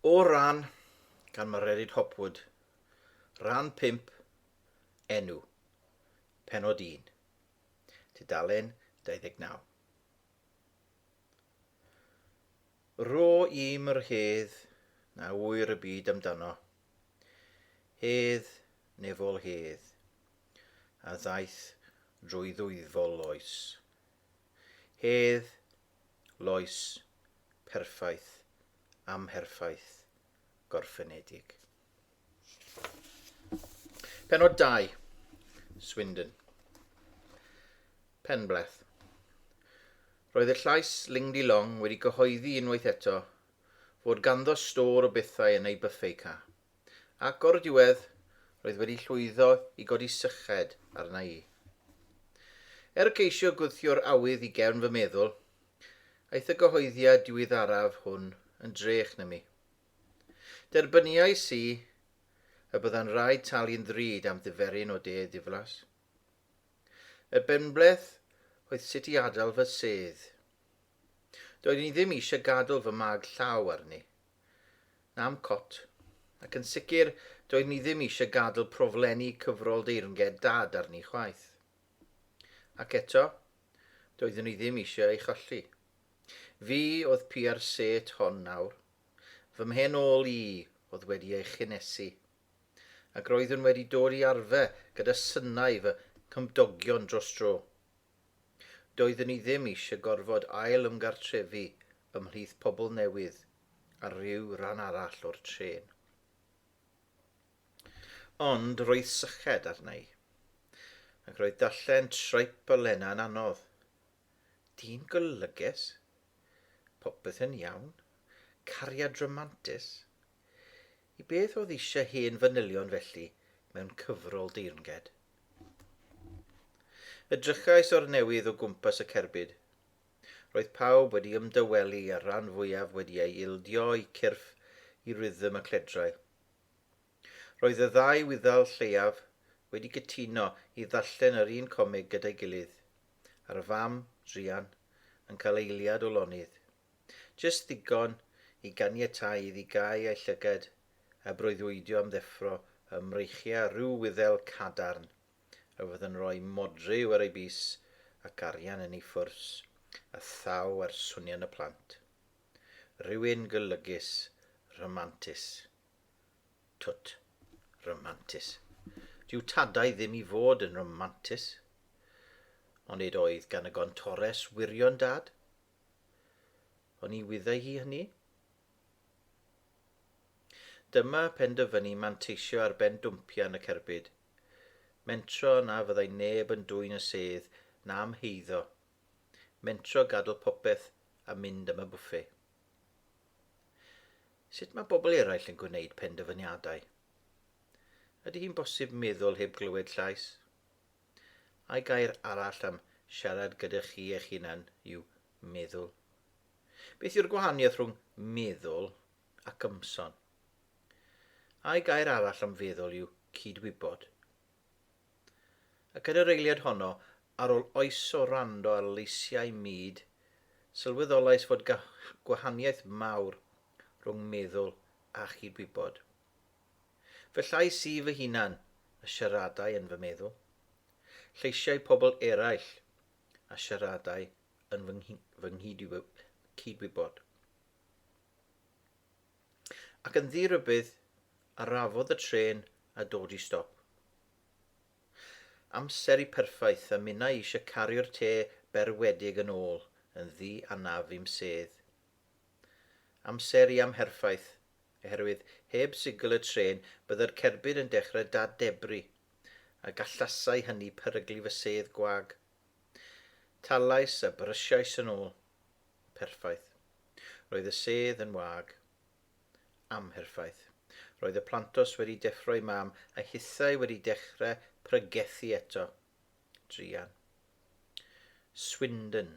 O ran, gan Mererid Hopwood, Rhan 5, Enw, Pennod 1, tudalen 29. Ro i'm yr hedd na ŵyr y byd amdano, hedd nefol hedd, a ddaeth drwy ddwyfol oes. Hedd, loes, perffaith, amherffaith, gorffenedig. Penod 2. Swindon. Penbleth. Roedd y llais Lingdi Long wedi gyhoeddi unwaith eto fod ganddo stôr o bethau yn ei byffei ca. ac o'r diwedd roedd wedi llwyddo i godi syched arna i. Er ceisio gwthio'r awydd i gefn fy meddwl, aeth y gyhoeddiad diwyddaraf hwn yn drech na mi. Derbyniais i y bydda'n rhaid talu'n ddrud am ddyferyn o de ddiflas. Y benbleth oedd sut i adael fy sedd. Doeddwn i ddim eisiau gadael fy mag llaw arni. Na'm cot. Ac yn sicr, doeddwn i ddim eisiau gadl proflenni cyfrol deyrnged Dad arni chwaith. Ac eto, doeddwn i ddim eisiau ei cholli. Fi oedd pia'r set hon nawr. Fy mhen ôl i oedd wedi ei chynhesu. Ac roeddwn wedi dod i arfer gyda synau fy nghymdogion dros dro. Doeddwn i ddim eisiau gorfod ail-ymgartrefu ymhlith pobl newydd ar ryw ran arall o'r trên. Ond roedd syched arna i. Ac roedd darllen Tripe a Lena yn anodd. Dyn golygus? Popeth yn iawn? Cariad ramantus? I beth oedd eisiau hen fanylion felly mewn cyfrol deyrnged? Edrychais o'r newydd o gwmpas y cerbyd. Roedd pawb wedi ymdawelu a'r rhan fwyaf wedi ei ildio i cyrff i rhythm y cledrau. Roedd y ddau wyddal lleiaf wedi cytuno i ddarllen yr un comig gyda'i gilydd, a'r fam, druan, yn cael eiliad o lonydd. Jyst ddigon i ganiatáu iddi gau ei llygad a breuddwydio am ddeffro ym mreichiau rhyw wyddel cadarn a fydd yn rhoi modryw ar ei bys ac arian yn ei phwrs a thaw ar swnien y plant. Rhywun golygus, rhamantus. Twt. Rhamantus. Dyw tadau ddim i fod yn rhamantus. Onid oedd gan y gontores wirion dad? Ond ni wyddai hi hynny. Dyma penderfynu manteisio ar ben dwmpia yn y cerbyd. Mentro na fyddai neb yn dwyn y sedd na amheiddo. Mentro gadl popeth a mynd am y bwffe. Sut mae bobl eraill yn gwneud penderfyniadau? Ydy hi'n bosib meddwl heb glywed llais? Ai gair arall am siarad gyda chi eich hunan yw meddwl? Beth yw'r gwahaniaeth rhwng meddwl ac ymson? Ai gair arall am feddwl yw cydwybod? Ac yn yr eiliad honno, ar ôl oes o rando ar leisiau mud, sylweddolais fod gwahaniaeth mawr rhwng meddwl a chydwybod. Fy llais i fy hunan a siaradai yn fy meddwl. Lleisiau pobl eraill a siaradai yn fy, fy nghydwybod. Ac yn ddirybydd, arafodd y tren a dod i stop. Amser i perffaith a minnau eisiau cario'r te berwedig yn ôl yn ddi anaf i'm sedd. Amser i amherffaith, oherwydd heb sigl y trên bydde'r cerbyd yn dechrau dad-debru, a gallasai hynny peryglu fy sedd gwag. Talais a brysiais yn ôl. Perffaith. Roedd y sedd yn wag. Amherffaith. Roedd y plantos wedi deffro i Mam, a hithau wedi dechrau pregethu eto. Druan. Swindon.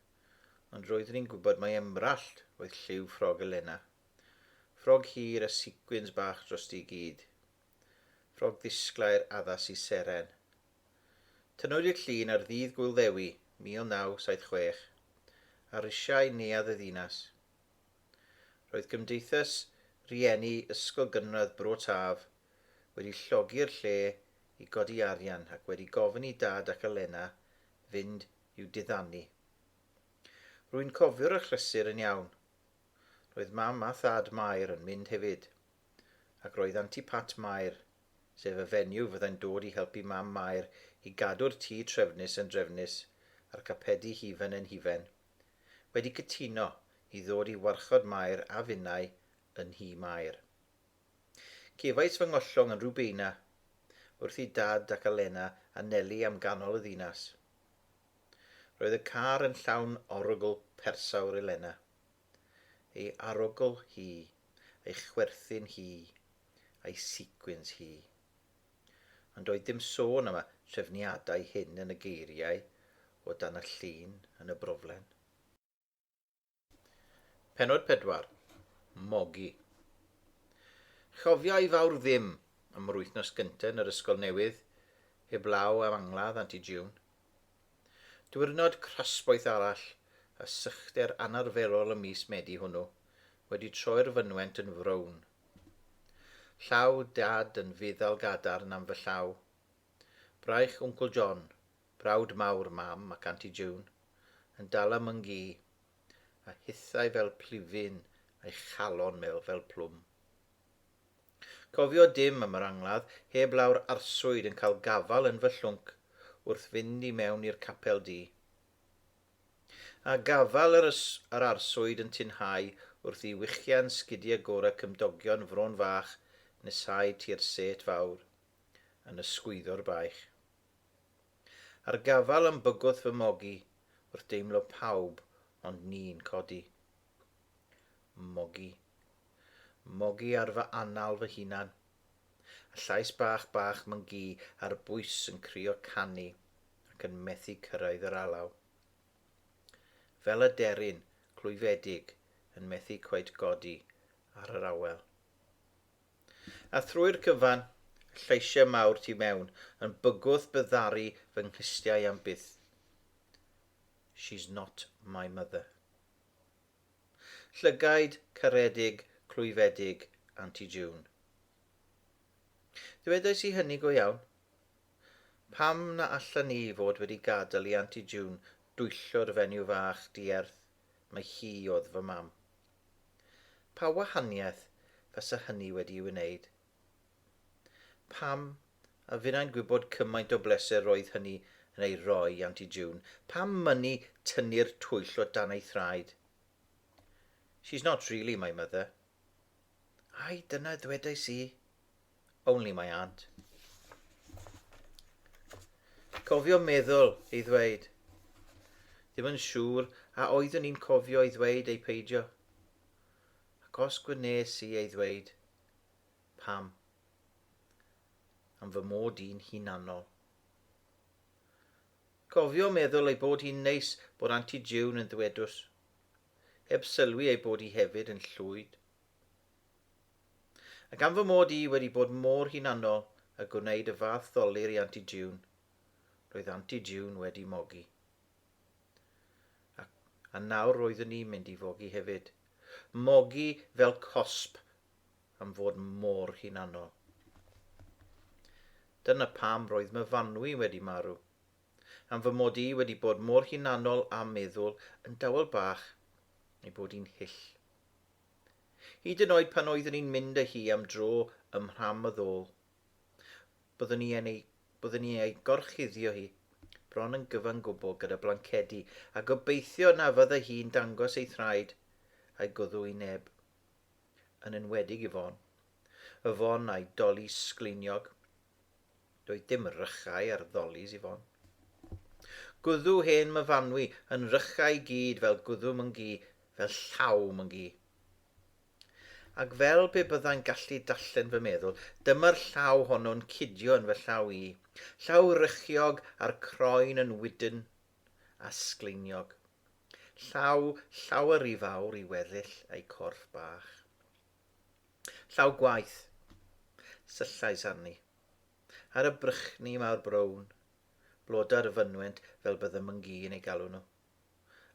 ond roeddwn i'n gwybod mai emrallt oedd lliw ffrog Elena. Ffrog hir a sicwins bach drosti i gyd. Ffrog ddisglair addas i seren. Tynnwyd i'r llun ar Ddydd Gŵyl Ddewi, 1976, ar risiau neuadd y ddinas. Roedd Gymdeithas Rieni Ysgol Gynradd Bro Taf wedi llogi'r lle i godi arian ac wedi gofyn i Dad ac Elena fynd i'w diddanu. Rwy'n cofio'r achlysur yn iawn. Roedd Mam a Thad Mair yn mynd hefyd. Ac roedd Anti Pat Mair, sef y fenyw fyddai'n dod i helpu Mam Mair i gadw'r tŷ trefnus yn drefnus a'r capedi hufen yn hufen, wedi cytuno i ddod i warchod Mair a finnau yn nhŷ Mair. Cefais fy ngollwng yn Rubeina, wrth i Dad ac Alena a Neli am ganol y ddinas. Roedd y car yn llawn orugl persawr Elena. Ei arogl hi, ei chwerthin hi, a'i sequins hi. Ond doedd dim sôn am y trefniadau hyn yn y geiriau o dan y llun yn y broflen. Pennod 4. Mogi. Chofia i fawr ddim am yr wythnos gyntaf yn yr ysgol newydd, heblaw am angladd Anti June. Diwrnod crasboeth arall a sychder anarferol y mis Medi hwnnw wedi troi'r fynwent yn frown. Llaw Dad yn fuddal gadarn am fy llaw. Braich Wncl John, Brawd mawr Mam ac Anti June yn dala myngi a hithau fel plifyn a'i chalon mêl fel plwm. Cofio dim am yr angladd heb law'r arswyd yn cael gafal yn fy llwnc wrth fynd i mewn i'r capel du. A gafal yr, yr arswyd yn tinhau wrth i wichian sgidia gora cymdogion Fron Fach nesáu tu'r sêt fawr yn ysgwyddo'r baich. Ar gafal yn bygwth fy mogi wrth deimlo pawb ond ni'n codi. Mogi. Mogi ar fy anal fy hunan. A llais bach bach myngi ar bwys yn crio canu ac yn methu cyrraedd yr alaw. Fel aderyn clwyfedig yn methu cweit godi ar yr awel. A thrwy'r cyfan, lleisiau mawr tu mewn, yn bygwth by ddaru fy nghlustiau am byth. She's not my mother. Llygaid caredig, clwyfedig, Aunty June. Dywedais i hynny go iawn? Pam na allan ni fod wedi gadael i Aunty June dwyllo'r fenyw fach dierth mai hi oedd fy mam? Pa wahaniaeth fasa hynny wedi'i wneud? Pam, a finnau'n gwybod cymaint o bleser roedd hynny yn ei roi i Aunty June, pam mynnu tynnu'r twyll o dan ei thraed? She's not really my mother. Ai, dyna ddwedais i? Only my aunt. Cofio meddwl ei ddweud. Ddim yn siŵr a oeddwn i'n cofio ei ddweud ei peidio. Ac os gwnes i ei ddweud, pam? Am fy mod i'n hunanol. Cofio meddwl ei bod hi'n neis bod Auntie June yn ddwedus. Heb sylwi ei bod hi hefyd yn llwyd. A gan fy mod i wedi bod mor hunanol a gwneud y fath ddolur i Anti June, roedd Anti June wedi mogi. A, a nawr roeddwn i'n mynd i fogi hefyd. Mogi fel cosb am fod mor hunanol. Dyna pam roedd my fanwy wedi marw. Am fy mod i wedi bod mor hunanol a meddwl yn dawel bach ei bod i'n hyll. Hyd yn oed pan oeddwn i'n mynd â hi am dro ym mhram y ddôl. Byddwn ni yn ei, byddwn ni ei gorchuddio hi, bron yn gyfan gwbl gyda blancedi, a gobeithio na fydda hi'n dangos ei thraed a'i gwddw i neb. Yn enwedig i Fon. Y Fon a'i doli sgleiniog. Doedd dim rychau ar ddolis Yvonne. Gwddw hen myfanwy yn rychau i gyd fel gwddw myngi, fel llaw myngi. Ac fel pe byddai'n gallu darllen fy meddwl, dyma'r llaw honno'n cidio yn fy llaw i. Llaw rychiog a'r croen yn wydn a sgleiniog. Llaw llawer ry fawr i weddill ei corff bach. Llaw gwaith, syllais arni. Ar y brychni mawr brown, blodau'r y fynwent fel bydd y myngi yn ei galw nhw.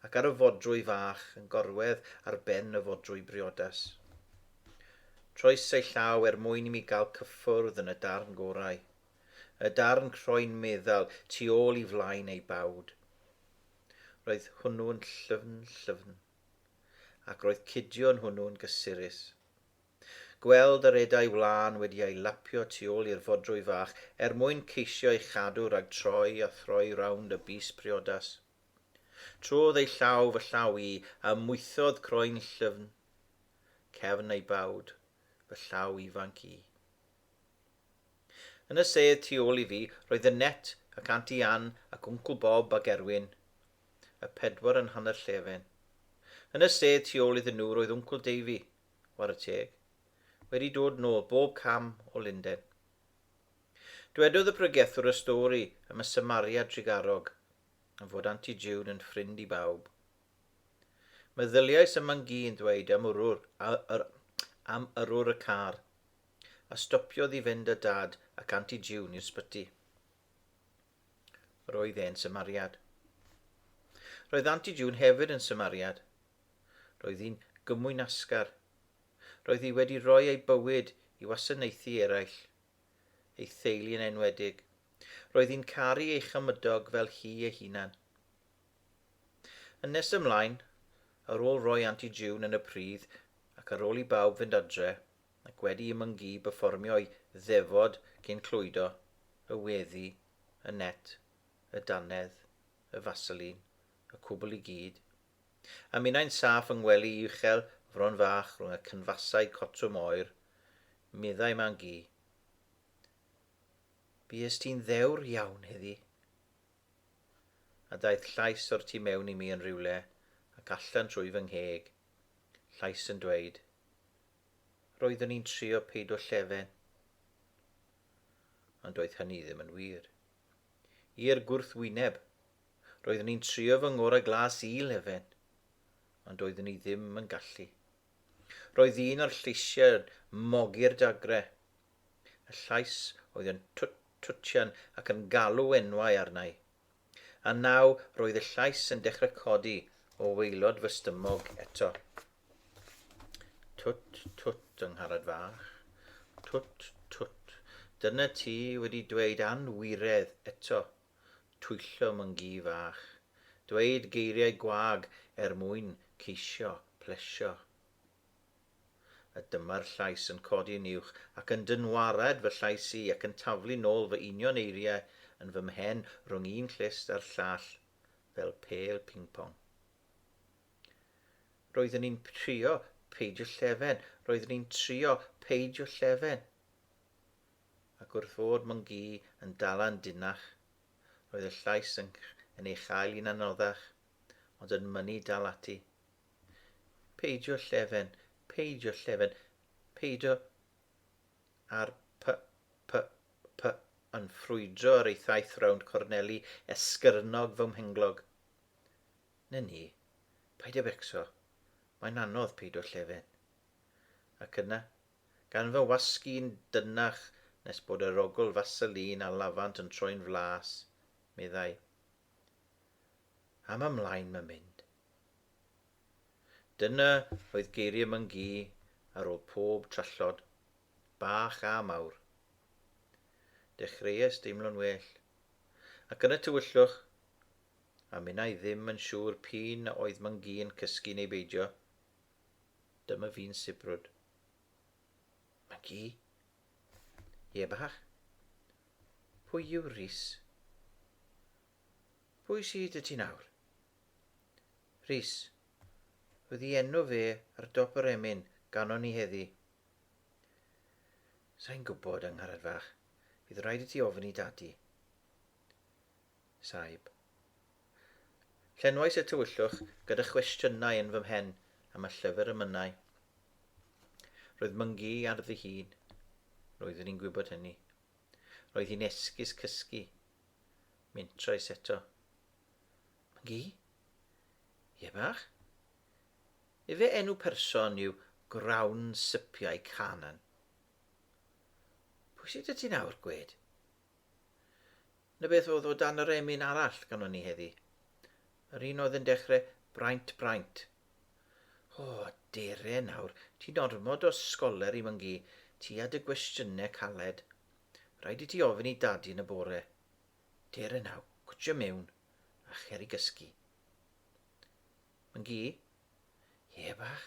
Ac ar y fodrwy fach yn gorwedd ar ben y fodrwy briodas. Troes ei llaw er mwyn i mi gael cyffwrdd yn y darn gorau. Y darn croen meddal tu ôl i flaen ei bawd. Roedd hwnnw'n llyfn, llyfn. ac roedd Cidion hwnnw'n gysurus. Gweld yr eda'i wlân wedi ei lapio tu ôl i'r fodrwy fach er mwyn ceisio ei chadw rhag troi a throi rownd y bys priodas. Trodd ei llaw fy llaw i a ymwythodd croen llyfn cefn ei bawd, fy llaw ifanc i. Yn y sedd tu ôl i fi roedd y net ac Anti Ann ac Wncl Bob ac Erwin, y pedwar yn hanner llefen. Yn y sedd tu ôl iddyn nhw roedd Wncwl Davey, ware teg, wedi dod nôl bob cam o Lunden. Dwedodd y pregethwr y stori am y Samaria drugarog, am fod Anti June yn ffrind i bawb. Meddyliais y mangi yn ddweud am yrwr, a, yr, am yrwr y car, a stopiodd i fynd â dad ac Anti June i'r sbyty. Roedd e'n symariad. Roedd Anti June hefyd yn symariad. Roedd hi'n gymwynasgar. Roedd hi wedi rhoi ei bywyd i wasanaethu eraill, ei theulu yn enwedig. Roedd hi'n caru ei chymydog fel hi ei hunan. Yn nes ymlaen, ar ôl roi Anti June yn y pridd ac ar ôl i bawb fynd adre, ac wedi i Mungee berfformio'i ddefod cyn clwydo y weddi, y net, y dannedd, y faseline, y cwbl i gyd. A minnau'n saff yng ngwely uchel Fron Fach rhwng y cynfasau cotwm oer, meddai Mangee, Bues ti'n ddewr iawn heddi. A daeth llais o'r tu mewn i mi yn rhywle ac allan trwy fy ngheg, llais yn dweud, Roeddwn i'n trio peidio llefen. Ond doedd hynny ddim yn wir. I'r gwrthwyneb, roeddwn i'n trio fy ngorau glas i lefen, ond doeddwn i ddim yn gallu. Roedd un o'r lleisiau yn mogi'r dagre. Y llais oedd yn twt twtian ac yn galw enwau arna i. A naw roedd y llais yn dechrau codi o waelod fy stymog eto. Twt, twt, yng ngharad fach. Twt, twt. Dyna ti wedi dweud anwiredd eto. Twyllo myngi fach. Dweud geiriau gwag er mwyn ceisio plesio. A dyma'r llais yn codi yn uwch ac yn dynwared fy llais i ac yn taflu nôl fy union eiriau yn fy mhen rhwng un clust a'r llall fel pêl ping-pong. Roeddwn i'n trio peidio llefen, roeddwn i'n trio peidio llefen. Ac wrth fod mwn gi yn dala'n dinach, roedd y llais yn, yn ei chael hi'n anoddach, ond yn mynnu dal ati. Peidio llefen, peidio llefen, peidio ar p, p, p, yn ffrwydro yr eithaith rownd corneli esgyrnog fy mhenglog. Na ni, paid â becso, mae'n anodd peidio llefen. Ac yna, gan fy wasg i'n dynach nes bod yr ogl faselin a lafant yn troi'n flas, meddai, am ymlaen mae'n mynd. Dyna oedd geiriau Mangee ar ôl pob trallod, bach a mawr. Dechreuais deimlo'n well, ac yn y tywyllwch, a minna i ddim yn siŵr p'un a oedd Mangee yn cysgu neu beidio, dyma fi'n sibrwd. Mangee? Ie bach? Pwy yw Rhys? Pwy sy 'da ti nawr? Rhys. Oedd i enw fe ar dop yr emyn ganon ni heddi. Sain gwybod, yng Ngharad Fach. Fydd rhaid i ti ofyn i dadi. Saib. Llenwais y tywyllwch gyda chwestiynau yn fy mhen am y llyfr y mynnai. Roedd myngu ar ddi hun. Roeddwn i'n gwybod hynny. Roedd hi'n esgus cysgu Mentrais eto. Mgi? Ie bach? Efe enw person yw Grawn Sypiau Canan. Pwy sydd y ti nawr, gwed? Na beth oedd o dan yr emyn arall ganon ni heddi. Yr un oedd yn dechrau braint braint. O, dere nawr, ti'n ormod o sgoler i myngu, ti a dy gwestiynau caled. Rhaid i ti ofyn i dadi yn y bore. Dere naw, gwtio mewn, a cher i gysgu. Myngi? Ie, bach.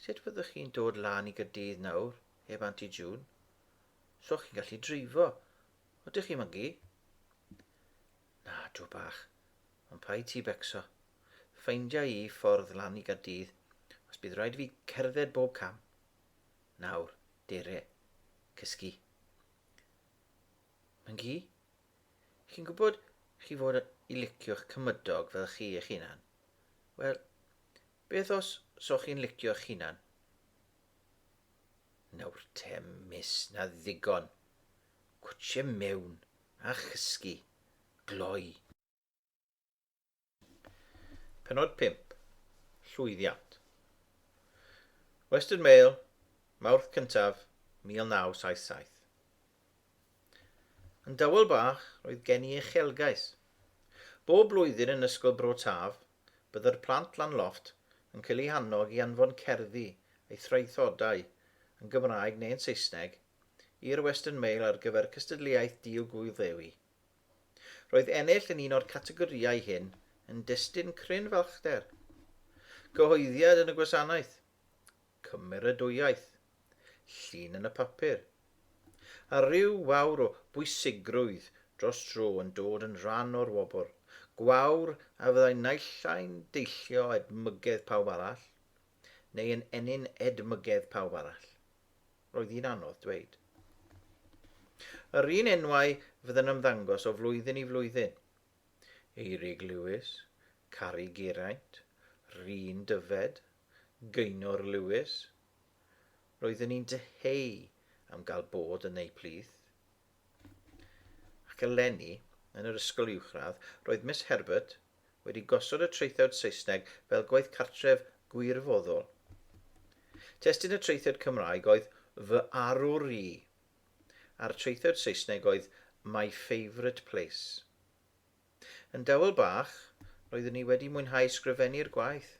Sut fyddwch chi'n dod lan i gydydd nawr, heb Auntie June? So chi'n gallu dreifo. Ydych chi, Myngi? Na, dw bach. Ond pa i ti becso? Ffeindia i ffordd lan i gydydd, os bydd rhaid fi cerdded bob cam. Nawr, deire, cysgu. Myngi, chi'n gwybod chi fod i licio'ch cymydog fel chi eich hunan? Wel, beth os so chi'n licio eich hunan? Nawr te, mis, na ddigon. Cwtsie mewn, a chysgu, gloi. Penod 5. Llwyddiant. Western Mail, Mawrth cyntaf, 1977. Yn dawel bach, roedd gen i uchelgais. Bob blwyddyn yn Ysgol Bro Taf, bydde'r plant lan lofft yn cael eu hannog i anfon cerddi eu thraethodau yn Gymraeg neu'n Saesneg i'r Western Mail ar gyfer cystadleuaeth Dil Gŵyl Ddewi Roedd ennill yn un o'r categorïau hyn yn destun cryn falchder. Cyhoeddiad yn y gwasanaeth, cymeradwyaeth, llun yn y papur, a rhyw wawr o bwysigrwydd dros dro yn dod yn rhan o'r wobr, gwawr a fyddai naill ai'n deillio edmygedd pawb arall, neu yn ennyn edmygedd pawb arall. Roedd hi'n anodd dweud. Yr un enwau fydd yn ymddangos o flwyddyn i flwyddyn. Eirig Lewis, Cari Geraint, Rhun Dyfed, Geinor Lewis. Roeddwn i'n dyheu am gael bod yn eu plith. Ac eleni, yn yr ysgol uwchradd, roedd Miss Herbert wedi gosod y traethawd Saesneg fel gwaith cartref gwirfoddol. Testun y traethawd Cymraeg oedd Fy Arwr I, a'r traethawd Saesneg oedd My Favourite Place. Yn dawel bach, roeddwn i wedi mwynhau sgrifennu'r gwaith.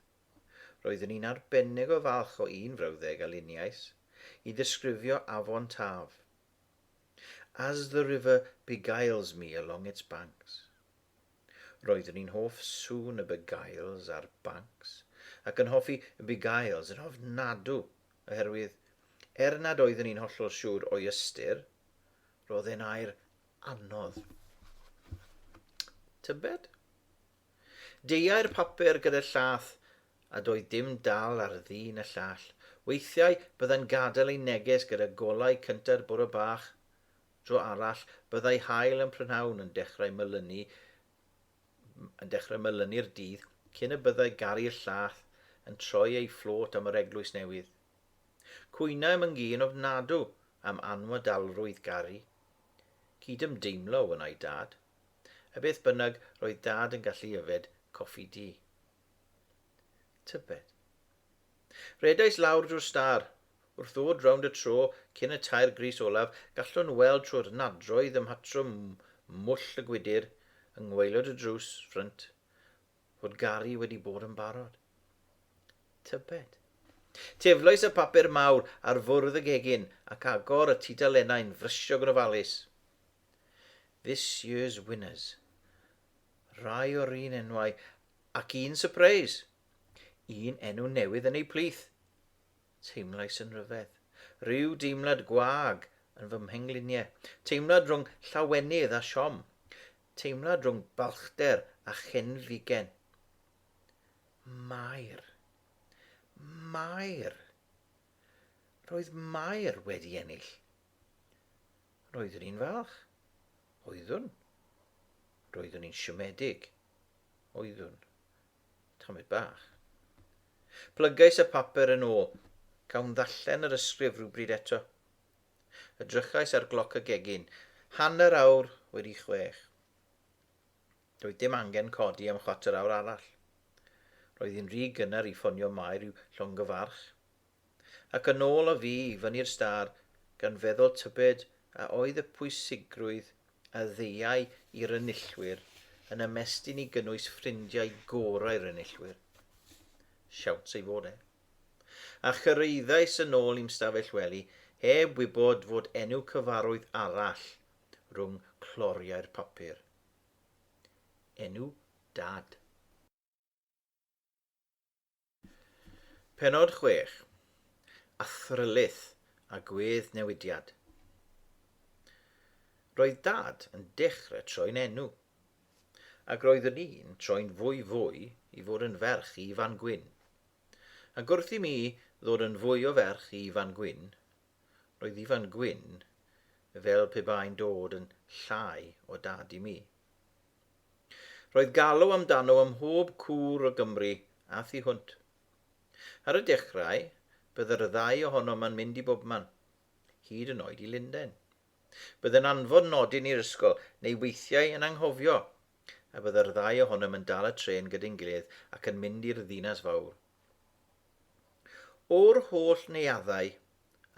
Roeddwn i'n arbennig o falch o un frawddeg a luniais, i ddisgrifio afon Taf. As the river beguiles me along its banks. Roeddwn i'n hoff sŵn y beguiles a'r banks, ac yn hoffi beguiles yn ofnadw, oherwydd, er nad oeddwn i'n hollol siŵr o'i ystyr, roedd e'n air anodd. Tybed? Deuai'r papur gyda'r llath, a doedd dim dal ar ddyn y llall. Weithiau, byddai'n gadael ei neges gyda golau cynta'r bore bach. Dro arall, byddai haul yn prynhawn yn dechrau melynu yn dechrau melynu'r dydd cyn y byddai garu'r llath yn troi ei fflôt am yr eglwys newydd. Cwynaem yn gyn ofnadw am anwadalrwydd Gari. Cydymdeimlo, wynnai Dad. A beth bynnag, roedd Dad yn gallu yfed coffi du. Tybed. Rhedais lawr drwy'r star. Wrth ddod rownd y tro cyn y tair gris olaf, gallwn weld trwy'r nadroedd ym mhatrwm mwll y gwydr, yng ngwaelod y drws ffrynt, fod Gary wedi bod yn barod. Tybed. Teflais y papur mawr ar fwrdd y gegin ac agor y tudalennau'n frysiog yn ofalus. This year's winners. Rhai o'r un enwau, ac un surprise. Un enw newydd yn ei plith. Teimlais yn rhyfedd. Rhyw deimlad gwag yn fy mhengliniau. Teimlad rhwng llawenydd a siom. Teimlad rhwng balchder a chenfigen. Mair. Mair. Roedd Mair wedi ennill. Roeddwn i'n falch. Oeddwn. Roeddwn i'n siomedig. Oeddwn. Tamed bach. Plygais y papur yn ôl. Cawn ddallen yr ysgrif rhywbryd eto. Edrychais ar gloc y gegin. Hanner awr wedi chwech. Doedd dim angen codi am chwarter awr arall. Roedd hi'n rhy gynnar i ffonio Mair i'w llongyfarch. Ac yn ôl â fi i fyny'r stâr, gan feddwl tybed a oedd y pwysigrwydd a ddeuai i'r enillwyr yn ymestyn i gynnwys ffrindiau gorau'r enillwyr? Siawns ei fod e. A chyrhaeddais yn ôl i'm stafell wely heb wybod fod enw cyfarwydd arall rhwng cloriau'r papur. Enw Dad. Pennod 6, Athrylith a Gwedd Newidiad. Roedd Dad yn dechrau troi'n enw, ac roeddwn i'n troi'n fwy fwy i fod yn ferch i Ifan Gwyn. Ac wrth i mi ddod yn fwy o ferch i Ifan Gwyn, roedd Ifan Gwyn fel pe bai'n dod yn llai o Dad i mi. Roedd galw amdano ym mhob cwr o Gymru a thu hwnt. Ar y dechrau, bydde'r ddau ohonom yn mynd i bobman, hyd yn oed i Lundain. Bydde'n anfon nodyn i'r ysgol, neu weithiau yn anghofio, a bydde'r ddau ohonom yn dal y trên gydyn gilydd ac yn mynd i'r ddinas fawr. O'r holl neuaddau,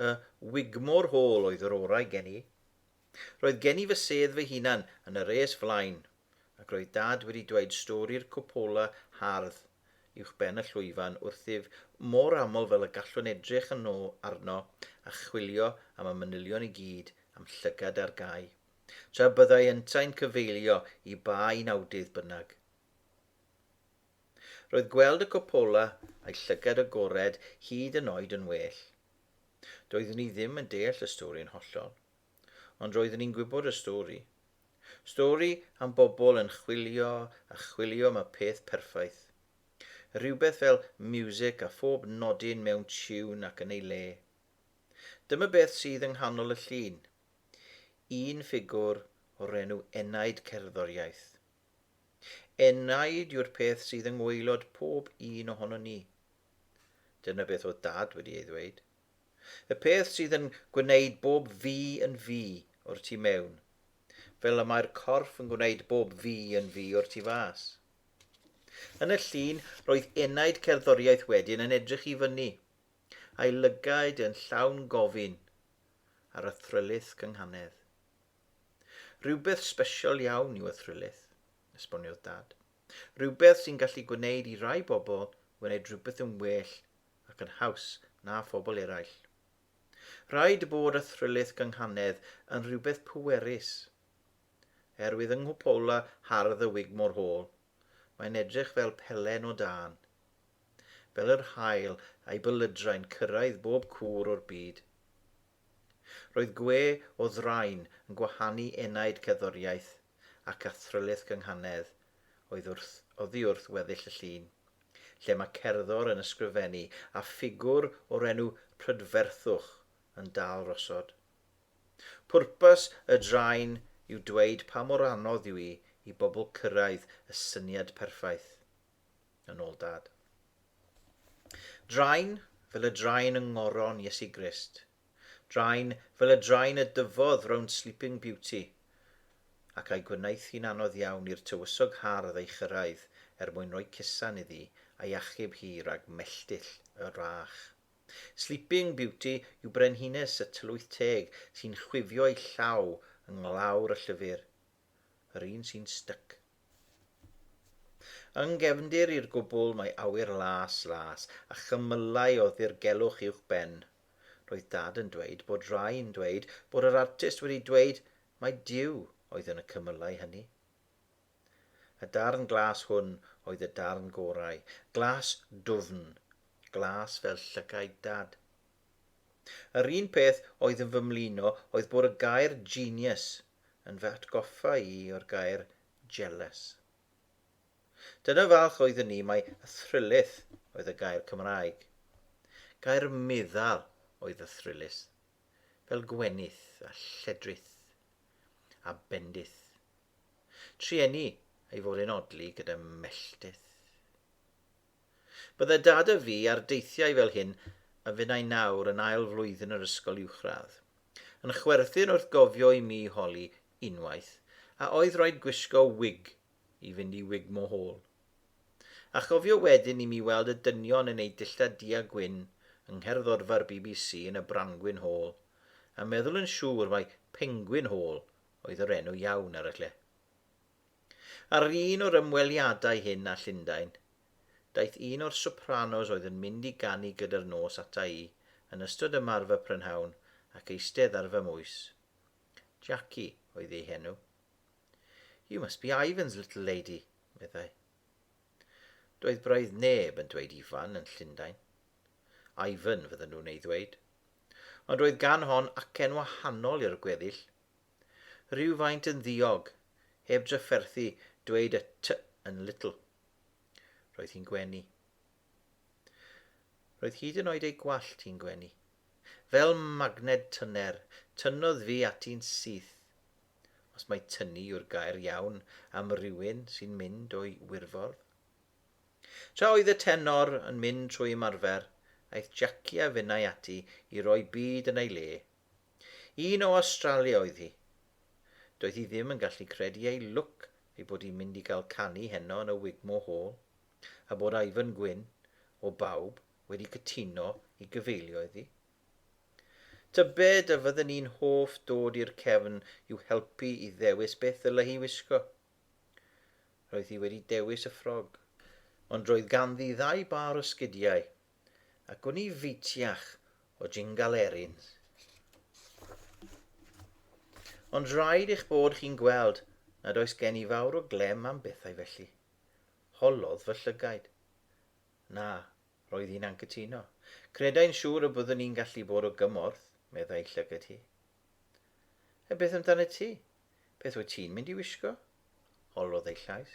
y Wigmore Hall oedd yr orau gen i. Roedd gen i fy sedd fy hunan yn y res flaen, ac roedd Dad wedi dweud stori'r cupola hardd uwchben y llwyfan wrthyf mor aml fel y gallwn edrych yno arno a chwilio am y manylion i gyd a'm llygad ar gau, tra byddai yntau'n cyfeilio i ba un awdydd bynnag. Roedd gweld y cupola a'i llygad agored hyd yn oed yn well. Doeddwn i ddim yn deall y stori yn hollol. Ond roeddwn i'n gwybod y stori. Stori am bobl yn chwilio a chwilio am y peth perffaith. Rhywbeth fel miwsig a phob nodyn mewn tiwn ac yn ei le. Dyma beth sydd yng nghanol y llun. Un ffigwr o'r enw Enaid Cerddoriaeth. Enaid yw'r peth sydd yng ngwaelod pob un ohonon ni. Dyna beth oedd Dad wedi ei ddweud. Y peth sydd yn gwneud bob fi yn fi o'r tu mewn, fel y mae'r corff yn gwneud bob fi yn fi o'r tu fas. Yn y llun, roedd enaid cerddoriaeth wedyn yn edrych i fyny, a'i lygaid yn llawn gofyn ar y thrylith gynghanedd. Rhywbeth sbesial iawn yw y thrylith, esboniodd Dad. Rhywbeth sy'n gallu gwneud i rai bobl wneud rhywbeth yn well ac yn haws na phobl eraill. Rhaid bod y thrylith gynghanedd yn rhywbeth pwerus. Er wydd yng nghwpola hardd y Wigmore Hall, mae'n edrych fel pelen o dân. Fel yr haul a'i bylydrau'n cyrraedd bob cwr o'r byd. Roedd gwe o ddrain yn gwahanu enaid cerddoriaeth ac athrylith gynghanedd oedd wrth, oddi wrth weddill y llun, lle mae cerddor yn ysgrifennu a ffigwr o'r enw prydferthwch yn dal rosod. Pwrpas y drain yw dweud pa mor anodd yw i i bobl cyrraedd y syniad perffaith. yn ôl Dad. Drain fel y drain yng ngoron Iesu Grist. Drain fel y drain y dyfodd rownd Sleeping Beauty, ac a'i gwnaeth hi'n anodd iawn i'r tywysog hardd ei chyrraedd er mwyn rhoi cusan iddi a'i achub hi rhag melltill y rach. Sleeping Beauty yw brenhines y tylwyth teg sy'n chwifio'i llaw yng nglawr y llyfr. yr un sy'n styc. Yng nghefndir i'r gwbl mae awyr las, las, a chymylau o ddirgelwch uwch ben. Roedd Dad yn dweud bod rai yn dweud bod yr artist wedi dweud mai Duw oedd yn y cymylau hynny. Y darn glas hwn oedd y darn gorau, glas dwfn, glas fel llygaid Dad. Yr un peth oedd yn fy mlino oedd bod y gair 'genius' yn fy atgoffa i o'r gair 'jealous'. Dyna falch oeddwn i mai 'thrylith' oedd y gair Cymraeg. Gair meddal oedd 'thrylith', fel gwenith a lledrith a bendith. Trueni ei fod e'n odli gyda melltith. Bydde Dad a fi ar deithiau fel hyn a finnau nawr yn ail flwyddyn yr ysgol uwchradd. Yn chwerthin wrth gofio i mi holi, unwaith, a oedd rhaid gwisgo wig i fynd i Wigmore Hall. A chofio wedyn i mi weld y dynion yn eu dillad du a gwyn yng ngherddorfa'r bbc yn y Brangwyn Hall, a meddwl yn siŵr mai Pengwyn Hall oedd yr enw iawn ar y lle. Ar un o'r ymweliadau hyn â Llundain, daeth un o'r sopranos oedd yn mynd i ganu gyda'r nos ata i yn ystod ymarfer prynhawn ac eistedd ar fy mhwys. Jackie oedd ei henw. You must be Ivan's little lady, meddai. Doedd braidd neb yn dweud Ifan yn Llundain. Ivan fydden nhw'n ei ddweud. Ond roedd gan hon acen wahanol i'r gweddill, Rhywfaint yn ddiog, heb drafferthu dweud y t yn little. Roedd hi'n gwenu. Roedd hyd yn oed ei gwallt hi'n gwenu. Fel magned tyner, tynnodd fi ati'n syth. Os mai tynnu yw'r gair iawn am rywun sy'n mynd o'i wirfodd. Tra oedd y tenor yn mynd trwy ymarfer, aeth Jackie a finnau ati i roi byd yn ei le, Un o Awstralia oedd hi. Doedd hi ddim yn gallu credu ei lwc ei bod hi'n mynd i gael canu heno yn y Wigmore Hall, a bod Ivan Gwyn, o bawb, wedi cytuno i gyfeilio iddi. Tybed a fydden ni'n hoff dod i'r cefn i'w helpu i ddewis beth ddylai hi wisgo? Roedd hi wedi dewis y ffrog. Ond roedd ganddi ddau bâr o sgidiau, a gwn i fitiach o jingal erin. Ond rhaid eich bod chi'n gweld nad oes gen i fawr o glem am bethau felly. Holodd fy llygaid. Na, roedd hi'n anghytuno. Credai'n siŵr y byddwn i'n gallu bod o gymorth, meddai llygad hi. A beth amdano ti? Beth wyt ti'n mynd i wisgo? Holodd ei llais.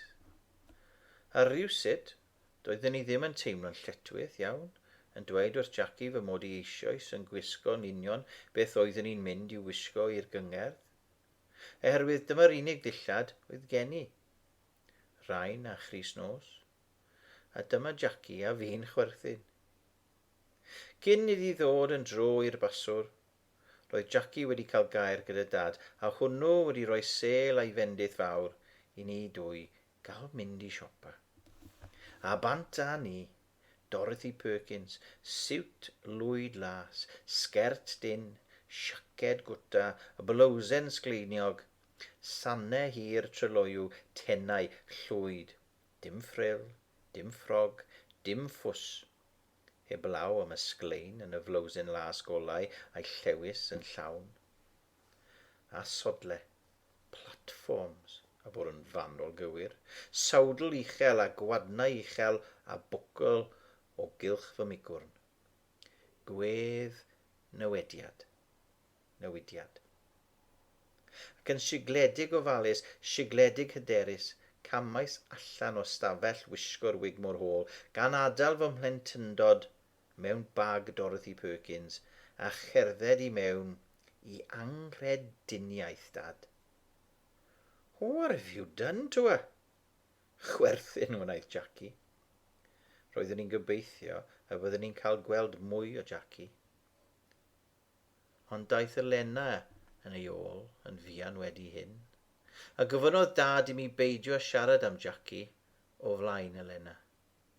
A rhywsut, Doedden ni ddim yn teimlo'n lletchwith iawn, yn dweud wrth Jackie fy mod i eisioes yn gwisgo'n union beth oeddwn i'n mynd i'w wisgo i'r gyngerdd. Oherwydd dyma'r unig ddillad oedd gen i. Rain a chrys nos. A dyma Jackie a fi'n chwerthin. Cyn iddi ddod yn dro i'r baswr, roedd Jackie wedi cael gair gyda Dad, a hwnnw wedi rhoi sêl a'i fendith fawr i ni dwy Gallwch mynd i siopa a bant â ni, Dorothy Perkins, siwt lwyd las, sgert dun, siaced gwta, blowsen sgleiniog, sanne hir tryloyw, tenau, llwyd, dim ffril, dim ffrog, dim ffws. Heblaw am y sglein yn y flowsen las golau a'i llewys yn llawn. a sodle, platforms, a bod yn fanwl gywir, sawdl uchel a gwadnau uchel a bwcl o gylch fy migwrn. Gwedd newediad. Newidiad. Ac yn sigledig ofalus, sigledig hyderus, camais allan o stafell wisgo'r wig mor hôl, gan adael fy mhlentyndod mewn bag Dorothy Perkins a cherdded i mewn i anghrediniaeth Dad. What have you done to her? Chwerthin wnaeth Jackie. Roeddwn i'n gobeithio y byddwn ni'n cael gweld mwy o Jackie. Ond daeth Elena yn ei ôl yn fuan wedi hyn, a gofynnodd Dad i mi beidio â siarad am Jackie o flaen Elena.